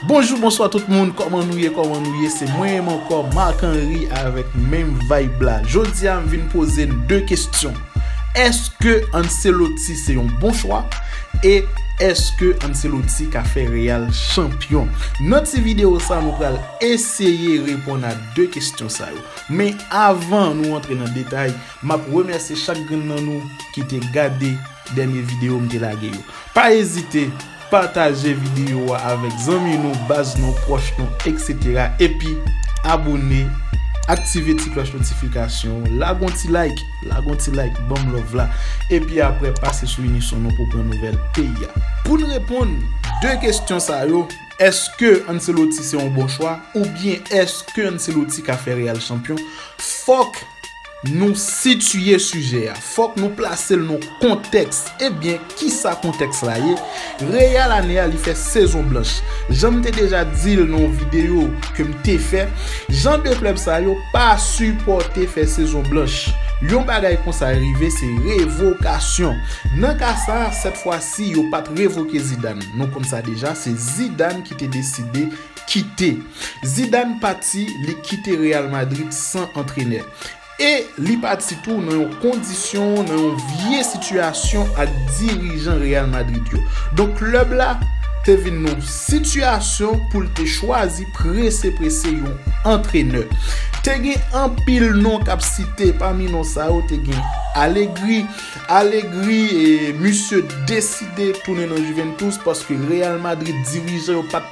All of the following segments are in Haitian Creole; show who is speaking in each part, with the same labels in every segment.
Speaker 1: Bonjou bonswa tout moun kòman nou ye kòman nou ye se mwen menm ankò Marc Henry avèk menm vayb la jodia m vin poze n 2 kestyon èske Ancelotti se yon bon chwa e èske Ancelotti ka fè Real chanpyon nan ti video sa nou pral eseye reponn a 2 kestyon sa yo men avan nou antre nan detay map remèsye chak grenn nan nou ki te gade dènye video m te lage yo pa ezite Pataje videyo a avèk zanmi nou, baz nou, pwòch nou etc. Epi abone, aktive ti klòch notifikasyon, lage yon ti like, lage yon ti like banm love la, epi aprè pase sou Unison nou pou pran nouvèl peyi a. Poun reponn 2 kestyon sa yo, èske Ancelotti se yon bon chwa oubyen èske Ancelotti ka fè Real chanpyon, fòk. Nou sitiye sijè a, fòk nou plase l nan kontèks. Ebyen, kisa kontèks la ye? Real ane a li fè sezon blanch. Jan m te deja di l nan yon videyo ke m te fè, jan de klèb sa yo pa sipòte fè sezon blanch. Yon bagay konsa rive se revokasyon. Nan ka sa, sèt fwa si yo pa t revoke Zidane. Nou konn sa deja, se Zidane ki te deside. kite. Zidane pati, li kite Real Madrid san antrenè. E li pati tou nan yon kondisyon, nan yon vye sitiyasyon ak dirijan Real Madrid yo. Donk klèb la te vin nan yon sitiyasyon pou l te chwazi prese prese yon antrenè. Te gen anpil non k ap site, pami non sa yo te gen Allegri. Allegri misye deside tounen nan Juventus paske Real Madrid dirijan yo pa t.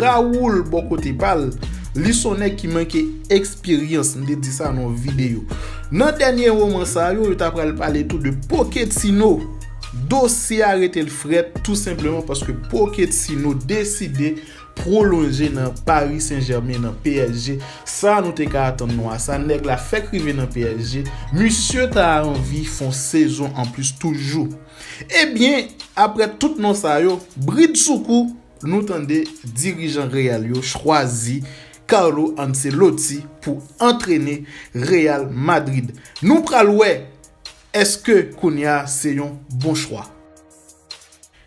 Speaker 1: Raoul bò kote pa l, li s on nèg ki manke eksperyans, m te di sa nan yon videyo. Nan dènye woman sa yo, yo ta pral pale tou de Poketino. Dosye a rete l frèt tou senpleman paske Poketino deside pwolonje nan Paris Saint Germain, nan psg. Sa nou te ka atann nou a sa, nèg la fèk rive nan psg, misye ta anvi fè yon sezon anplis toujou. Ebyen, aprè tout non sa yo, bridsoukou, Nou tande dirijan Real yo chwazi Carlo Ancelotti pou antrene Real Madrid. Nou pral wè eske kounya se yon bon chwa.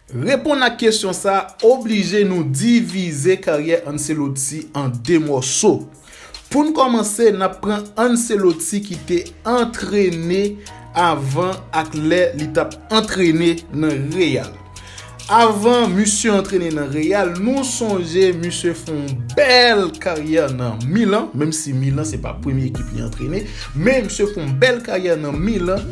Speaker 1: Reponn ak kesyon sa oblije nou divize karyè Ancelotti an 2 mòso. Pou n kòmanse, n ap pran Ancelotti ki te antrene avan ak lè li t ap antrene nan Real. Avan misye antrene nan Real, nou sonje misye fè yon bèl karyè nan Milan, menm si Milan se pa premye ekip li antrene, men misye fè yon bèl karyè nan Milan,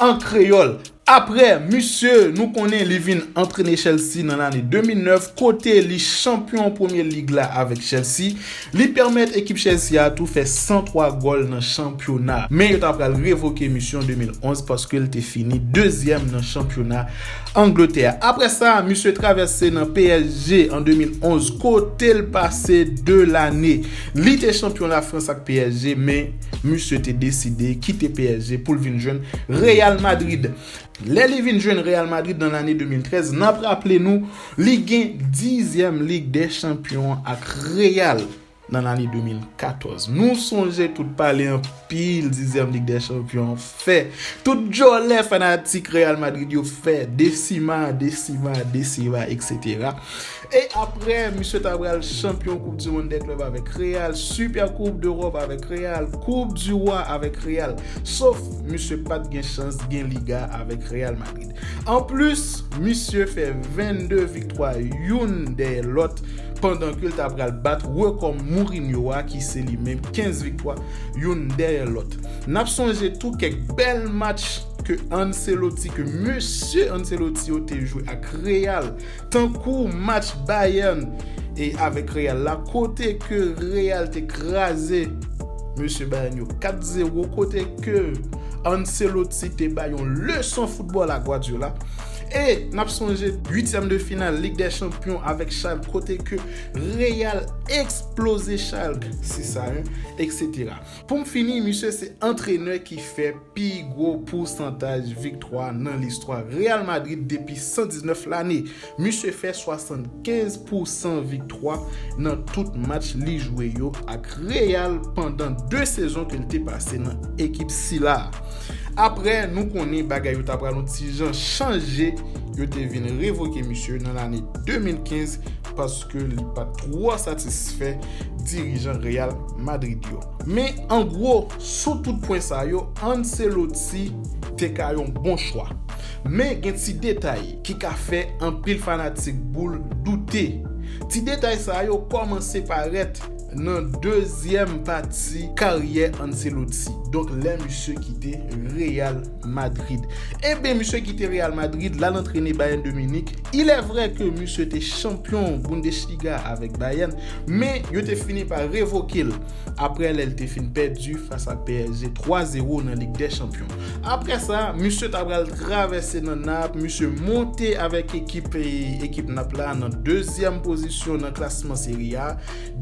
Speaker 1: An kreyòl. Aprè misye nou konnen li vin antrene Chelsea nan lane 2009 kote li chanpyon premye lig la avèk Chelsea, li pèmèt ekip Chelsea a tou fè 103 gòl nan chanpyona. Men yo ta pral revoke misye an 2011 paske l te fini dezyèm nan chanpyona Angletè a. Aprè sa, misye travèse nan psg an 2011 kote l pase 2 lane. Li te chanpyon Lafrans ak psg men. Misye te deside kite psg pou l vin jwenn Real Madrid. Lè li vin jwenn Real Madrid nan lane 2013, n ap raple nou li gen dizyèm Lig dè Chanpyon an ak Real nan lane 2014. Nou sonje tout pale anpil dizyèm Lig dè Chanpyon an fè, tout djòlè fanatik Real Madrid yo fè, desima, desima, desima, eksetera. E aprè, misye ta pral chanpyon koup di mond dè klèb avèk Real, Super koup dEròp avèk Real, koup di Rwa avèk Real. Sof, misye pat gen chans gen Liga avèk Real Madrid. Anplis, misye fè 22 viktwa youn dèyè lòt pandan ke l ta pral bat rekò Mourinho a ki se li menm 15 viktwa youn dèyè lòt. N ap sonje tou kèk bèl match ke Ancelotti, ke mesye Ancelotti yo te jwe ak Real Tankou match Bayern e avèk Real la kote ke Real te kraze mesye Bayern yo 4 zero kote ke Ancelotti te bay yon leson football a Guardiola e nap sonje 8 tièm de final lig dè chanpyon avèk Schalke kote ke Real eksploze Schalke 6 a 1 etc. Pou m fini, misye se antrenè ki fè pi gwo pousantaj viktwa nan listwa Real Madrid depi 119 lane. Misye fè 75 pousan viktwa nan tout match li jwe yo ak Real pandan 2 sezon ke l te pase nan ekip sila a. Aprè, nou konnen bagay yo ta pral yon ti jan chanje, yo te vin revoke misye nan lane 2015 paske li pa twò satisfè dirijan Real Madrid yo. Men, an gwo, sou tout pwen sa yo, Ancelotti te ka yon bon chwa. Men, gen ti detay ki ka fè anpil fanatik boul doute. Ti detay sa yo kòmanse parèt nan dezyèm pati karyè Ancelotti, donk lè misye kite Real Madrid. Eben misye kite Real Madrid lal antrene Bayern de Munich. Ilèvrè ke misye te chanpyon Bundesliga avèk Bayern, men yo te fini pa revoke l aprè lè l te fin pèdi fas ak psg 3 zero nan Lig dè Chanpyon. Aprè sa, misye ta pral travèse nan Nap, misye monte avèk ekip ekip Nap la nan dezyèm pozisyon nan klasman Serie A,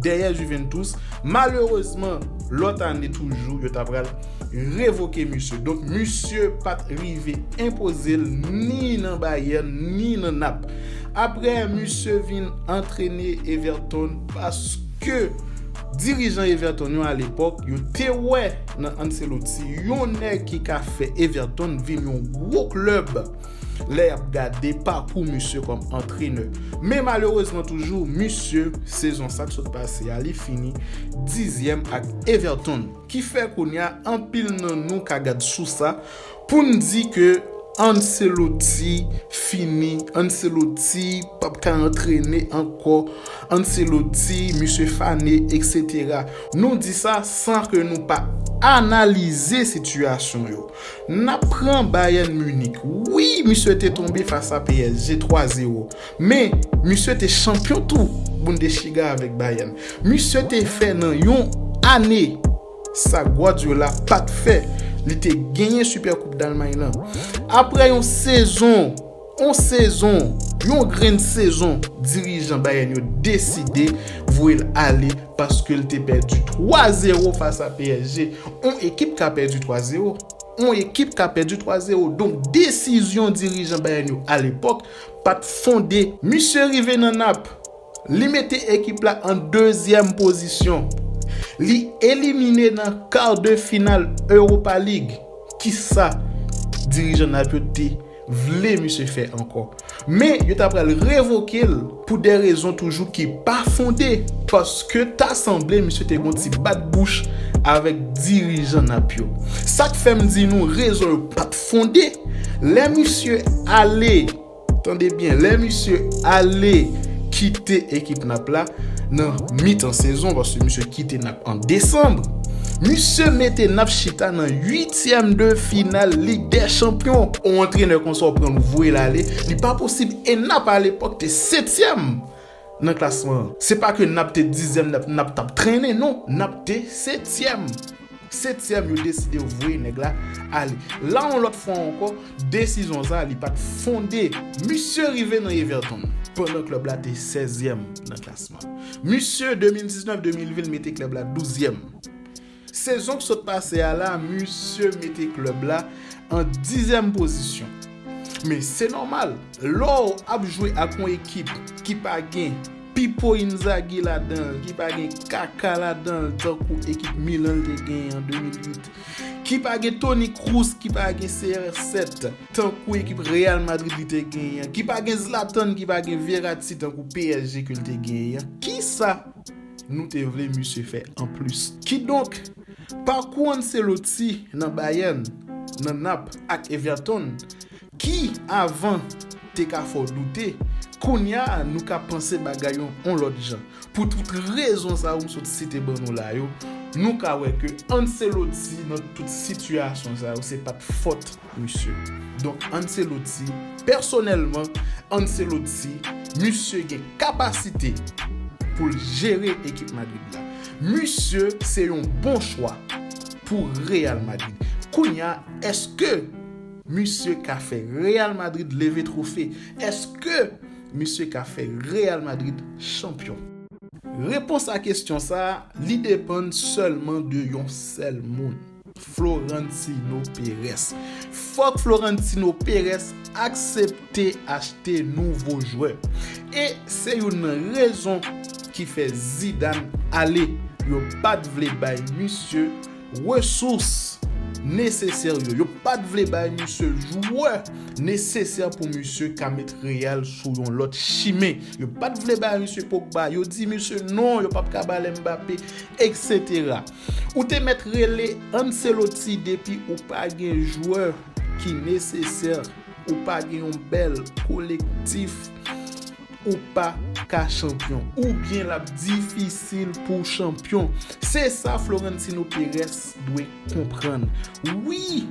Speaker 1: dèyè Juventus. Malerezman, lòt ane toujou yo ta pral. revoke misye. Donk misye pa t rive enpoze l ni nan Bayern ni nan Nap. Aprè misye vin antrene Everton paske dirijan Everton yo alepòk yo te wè nan Ancelotti yon nèg ki ka fè Everton vin yon gwo klèb lè y ap gade pakou misye kòm antrenè. Men malerezman toujou misye sezon sa k sot pase a li fini dizyèm ak Everton. Ki fè kounya anpil nan nou ka gad sou sa pou n di ke Ancelotti fini, Ancelotti p ap ka antrene ankò, Ancelotti misye fane eksetera. Nou di sa san ke nou pa analize sitiyasyon yo. N ap pran Bayern Munich, wi misye te tonbe fas a psg 3 zero, Men, misye te chanpyon tou Bundesliga avèk Bayern. Misye te fè nan yon ane sa Guardiola pa t fè, li te genyen Supercoupe d'Allemagne lan. Aprè yon sezon, yon sezon, yon grenn sezon, dirijan Bayern yo deside voye l ale paske l te pèdi 3 zero fas a psg. Yon ekip ka pèdi 3 zero. Yon ekip ka pèdi 3 zero. Donk desizyon dirijan Bayern yo alepòk, pat fonde. Misye rive nan nap. Li mete ekip la an dezyèm pozisyon. Li elimine nan kar de final Europa League. Kisa dirijan nap yo te vle misye fè ankò. Men yo ta pral revoke l pou de rezon toujou ki pa fonde. Paske ta sanble misye te gon ti bat bouch avèk dirijan nap yo. Sak fèm di nou rezon yo pat. Fonde, lè misye ale, tande byen, lè misye ale kite ekip Nap la nan mitan sezon, paske misye kite Nap an desanm, misye mete Nap chita nan uityèm de final Lig dè Chanpyon. On antrenè konsa ou pran l ou voye l ale, li pa posib e Nap alepòk te setyèm Nan klasman an. Se pa ke nap te dizyèm nap tap trennen non nap te setyèm. Setyèm yo deside yo voye nèg la ale. La yon lòt fwa ankò desizyon sa li pat fonde. Misye rive nan Everton pandan klèb la te sèzyèm nan klasman. Misye 2019-2020 l mete klèb la douzyèm. Sezon k sot pase a la misye mete klèb la an dizyèm pozisyon. Men se nòmal lè w ap jwe ak yon ekip ki pa gen Pipo Inzaghi ladan l, ki pa gen Kaka ladan l tankou ekip Milan l te genyen an 2008, ki pa gen Toni Kroos, ki pa gen CR7 tankou ekip Real Madrid li te genyen an, ki pa gen Zlatan, ki pa gen Verratti tankou psg ke l te genyen an. Kisa? nou te vle misye fè anplis. Kidonk, pakou Ancelotti nan Bayern, nan Naples ak Everton, ki, avan, te ka fè w doute, kounya nou ka panse bagay yo yon lòt jan. Pou tout rezon sa yo m sot site ban nou la yo, nou ka wè ke Ancelotti nan tout sitiyasyon sa yo se pa t fòt Misye. Donk Ancelotti, pèsonèlman, Ancelotti, misye gen kapasite pou l jere ekip Madrid la. Misye se yon bon chwa pou Real Madrid. Kounye a, èske misye ka fè Real Madrid leve twofe? Èske misye ka fè Real Madrid chanpyon? Repons a kesyon sa a, li depann sèlman de yon sèl moun. Florentino Perez Fòk Florentino Perez aksepte achte nouvo jwè e se youn nan rezon ki fè Zidane ale. Yo pa t vle bay misye resous nesesè yo. Yo pa t vle bay misye jwè nesesè pou misye ka met Real sou yon lòt chimen. Yo pa t vle bay misye Pogba. Yo di misye non, yo pap ka ba l Mbappé, eksetera. Ou te mèt rele Ancelotti depi ou pa gen jwè ki nesesè, ou pa gen yon bèl kolektif, ou pa ka chanpyon. Oubyen l ap difisil pou w chanpyon. Se sa Florentino Perez dwe konprann. Wi,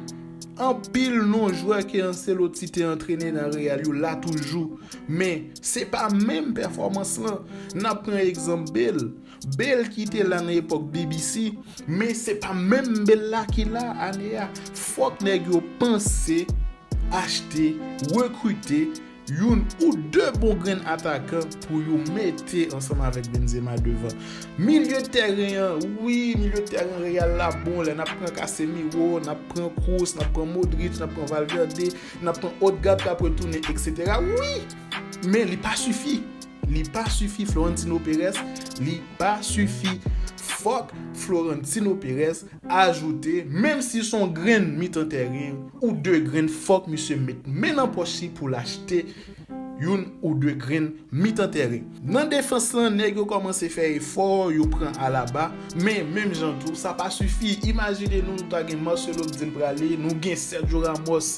Speaker 1: anpil non jwè ke Ancelotti te antrene nan Real yo la toujou, men se pa menm pèfòmans lan. N ap pran egzanp Bale. Bell ki te la nan epòk BBC, men se pa menm Bell la ki la ane a. Fòk nèg yo panse achte, rekrite, youn ou de bon grenn atakan pou yo mete ansanm avèk Benzema devan. Milye tèren an, wi, milye tèren Real la bon lè n ap pran Casemiro, n ap pran Kroos, n ap pran Modric, n ap pran Valverde, n ap pran Odegaard k ap retounen, eksetera, wi! Men li pa sifi. Li pa sifi Florentino Perez Li pa sifi Fòk Florentino Perez ajoute menm si s on grenn mitan tèren ou de grenn fòk misye met men nan pòch li pou l achte youn ou de grenn mitan tèren. Nan defans lan nèg yo kòmanse fè efò, yo pran Alaba, men menm jan tou sa pa sifi. Imajine nou nou ta gen Marcelo k di l prale, nou gen Sergio Ramos,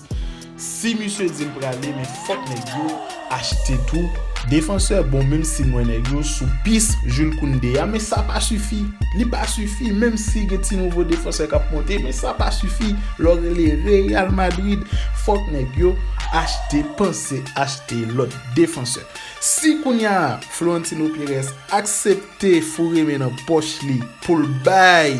Speaker 1: Si misye dil prale men fòk nèg yo achte tou Défenseur bon menm sim wè nèg yo sou pis Jules Koundé a men sa pa sifi li pa sifi menm si gen ti nouvo défenseur kap monte men sa pa sifi lè w rele Real Madrid fòk nèg yo achte panse achte lòt défenseur si kounya Florentino Pérez aksepte foure men nan pòch li poul bay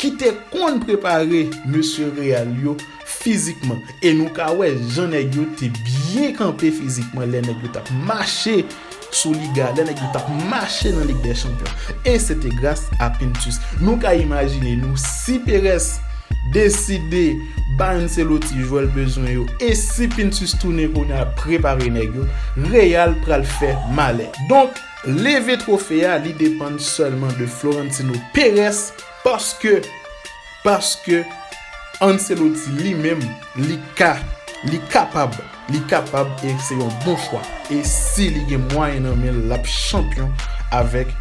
Speaker 1: ki te konn prepare mesye Real yo fizikman e nou ka wè jan nèg yo te byen kanpe fizikman lè nèg yo t ap mache sou Liga, lè nèg yo t ap mache nan Lig dè Chanpyon e se te gras a Pintus. Nou ka imajine nou si Perez deside bay Ancelotti jwè l bezwen yo e si Pintus tounen kounye a prepare nèg yo, Real pral fè malè. Donk. Leve trofe a li depann sèlman de Florentino Perez paske paske Ancelotti li menm li ka li kapab li kapab e se yon bon chwa e si li gen mwayen nan men l l ap chanpyon avèk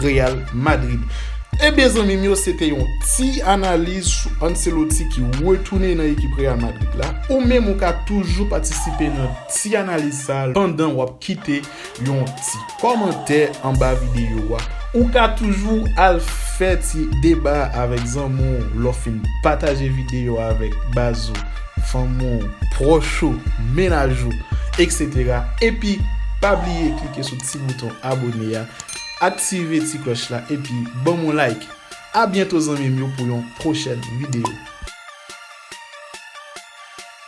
Speaker 1: Real Madrid. Ebyen zanmi m yo se te yon ti analiz sou Ancelotti ki retounen nan ekip Real Madrid la. Ou menm ou ka toujou patisipe nan ti analiz sa pandan w ap kite yon ti kòmantè anba videyo a. Ou ka toujou al fè ti deba avèk zanmi w lè w fin pataje videyo a avèk baz ou, fanmi w, pwòch ou, mennaj ou, etc. Epi pa bliye klike sou ti bouton abone a, aktive ti klòch la epi banm yon like. A byento zanmi m yo pou yon pwochèn videyo.